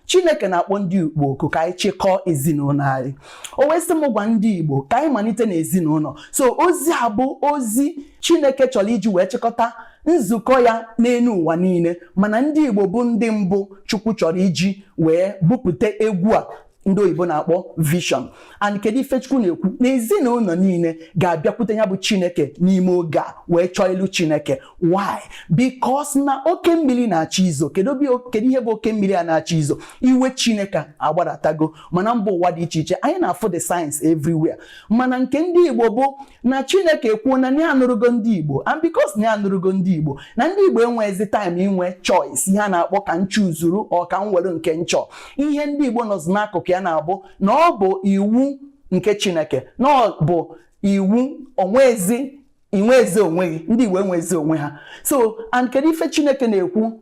chineke na-akpọ ndị igbo oku ka anyị chịkọọ ezinụlọ anyị o wee sị m gwa ndị igbo ka anyị malite n'ezinụlọ so ozi a bụ ozi chineke chọrọ iji wee chịkọta nzukọ ya n'elu ụwa niile mana ndị igbo bụ ndị mbụ chukwu chọrọ iji wee bupụta egwu a ndị oyibo na-akpọ vision and kedu ife chukwu na-ekwu na ezinụlọ niile ga-abịakwute ya bụ chineke n'ime oge a wee chọọ ilu chineke why because na oke mmiri na-achọ izo kedu ihe bụ oke mmiri a na-achọ izo iwe chineke agbadatago mana mba ụwa dị iche iche anyị na-afụ the signs everywhere mana nke ndị igbo bụ na chineke ekwuo na ya anụrụgo ndị igbo and because na ya anụrụgo ndị igbo na ndị igbo enweghịzi time inwe choice ihe a na-akpọ ka m chuzuru or ka m were nke m chọ ihe ndị igbo nọzi n'akụkụ ya na-abụ na ọ bụ iwu nke chineke na ọ bụ iwu o nwezi i nwezi onwe gị ndị igbo enwezi onwe ha so and kedu ife chineke na-ekwu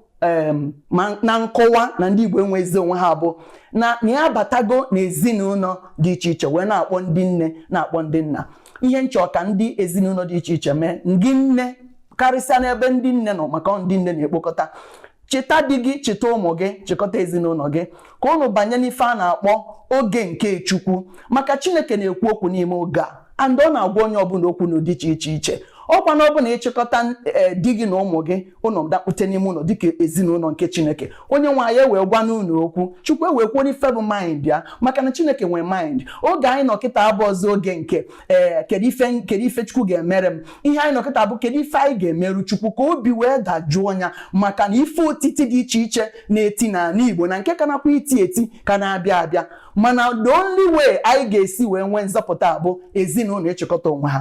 na nkọwa na ndị Igbo enwezi onwe ha bụ na na ya abatago n'ezinụlọ dị iche iche wee na-akpọ ndị nne na-akpọ ndị nna ihe m chọ ka ndị ezinụlọ dị iche iche mee ndị nne karịsịa n'ebe ndị nne nọ maka ndị nne na-ekpokọta cheta di gị cheta ụmụ gị chịkọta ezinụlọ gị ka ụnụ banye n'ife a na-akpọ oge nke Chukwu maka Chineke na-ekwu okwu n'ime oge a and ọ na-agwa onye ọbụla okwu n'ụdị dị iche iche ọ kwa na ọ bụrụ na ị chịkọta eh, di gị na ụmụ gị ụnụ dakpute n'ime ụlọ dịka ezinụlọ nke chineke onye nwe anyị ewee gwa ụnụ okwu chukwu ewee kwuo n'ife bụ mind ya maka na chineke nwee mind oge anyị nọ kịta abụrọzị oge nke ee eh, kedu ife kedu ife chukwu ga-emere m ihe anyị nọ kịta bụ kedu ife anyị ga-emeru chukwu ka obi wee dajụọ ya maka na ife otiti dị iche iche na-eti n'ala igbo na nke ka na-akwa iti eti ka na-abịa abịa mana the only way anyị ga-esi wee nwee nzọpụta bụ ezinụlọ ịchịkọta onwe ha